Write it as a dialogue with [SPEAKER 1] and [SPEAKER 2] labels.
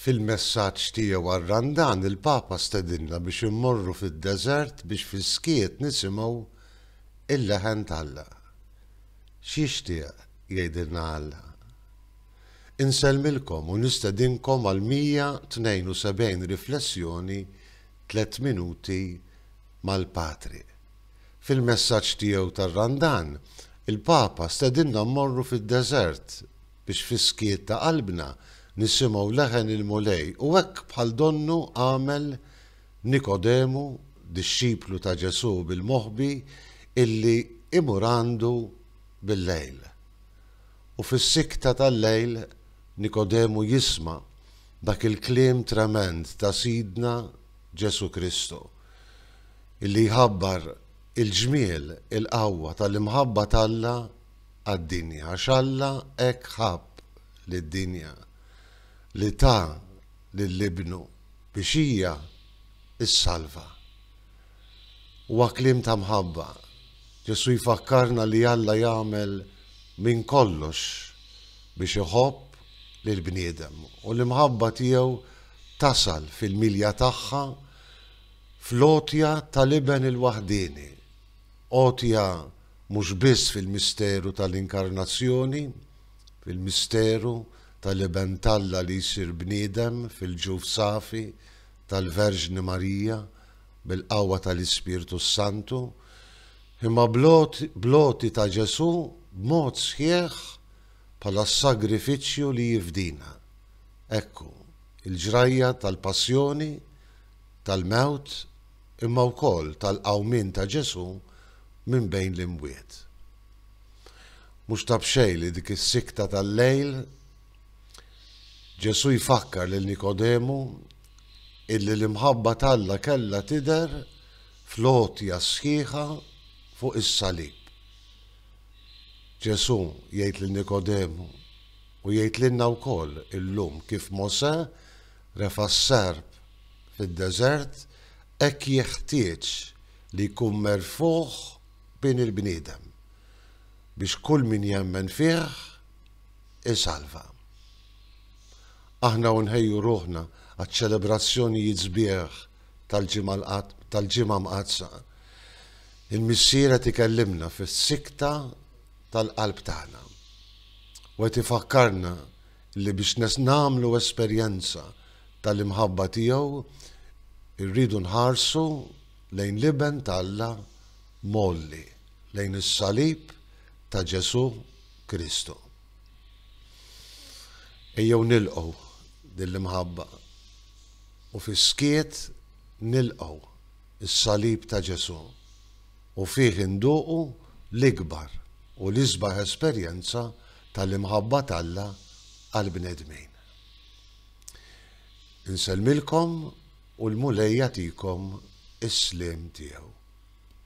[SPEAKER 1] Fil-messaġġ tiegħu għar-Randan il-Papa stedinna biex immorru fid-deżert biex fis-skiet nisimgħu l-leħen t'Alla. X'jixtieq jgħidilna Alla? Insellmilkom u nistedinkom għall-172 riflessjoni Tliet Minuti mal-Patri. Fil-messaġġ tiegħu tar-Randan, il-Papa stedinna mmorru fid-deżert, biex fis-skiet ta' qalbna nisimgħu leħen il-Mulej u hekk bħal donnu għamel Nikodemu, dixxiplu ta' Ġesù bil-moħbi illi imur għandu bil-lejl. U fis-sikta tal-lejl Nikodemu jisma' dak il-kliem tremend ta' Sidna Ġesù Kristu illi jħabbar il-ġmiel, il-qawwa tal-imħabba t'Alla għad-dinja, għax Alla hekk ħabb lid-dinja, li ta lil Ibnu, biex hija ssalva. Huwa kliem ta' mħabba. Ġesù jfakkarna li Alla jagħmel minn kollox biex iħobb lill-bniedem, u l-imħabba tiegħu tasal fil-milja tagħha fl-għotja tal-Iben il-waħdieni, għotja mhux biss fil-misteru tal-Inkarnazzjoni, fil-misteru tal-Iben t'Alla li jsir bniedem fil-ġuf safi tal-Verġni Marija bil-qawwa tal-Ispirtu s-Santu, imma bl-għoti ta' Ġesù b'mod sħiħ bħala s-sagrifiċċju li jifdina. Ekku, il-ġrajja tal-Passjoni, tal-mewt imma wkoll tal-qawmien ta' Ġesù minn bejn l-imwiet. Mhux ta' b'xejn li dik is-sikkta tal-lejl Ġesù jfakkar lil Nikodemu illi l-imħabba t'Alla kellha tidher fl-għotja sħiħa fuq is-salib. Ġesù jgħid lil Nikodemu u jgħid lilna wkoll illum kif Mosè Refa' s-serp fid-deżert hekk jeħtieġ li jkun merfugħ bin il-bniedem, biex kull min jemmen fih isalva. Aħna u nħejju ruħna għaċ-ċelebrazzjonijiet sbieħ tal-Ġimgħa Mqaddsa, il-Missier qed ikellimna fis-sikta tal-qalb tagħna u qed ifakkarna li biex nagħmlu esperjenza tal-imħabba tiegħu rridu nħarsu lejn l-Iben ta' Alla mgħolli, lejn is-salib ta' Ġesù Kristu. Ejjew nilqgħu din l-imħabba u fis-skiet nilqgħu is-salib ta' Ġesù u fih induqu l-ikbar u l-isbaħ esperjenza tal-imħabba t'Alla għall-bnedmin. Insellmilkom u l-Mulej jagħtikom is-sliem tiegħu.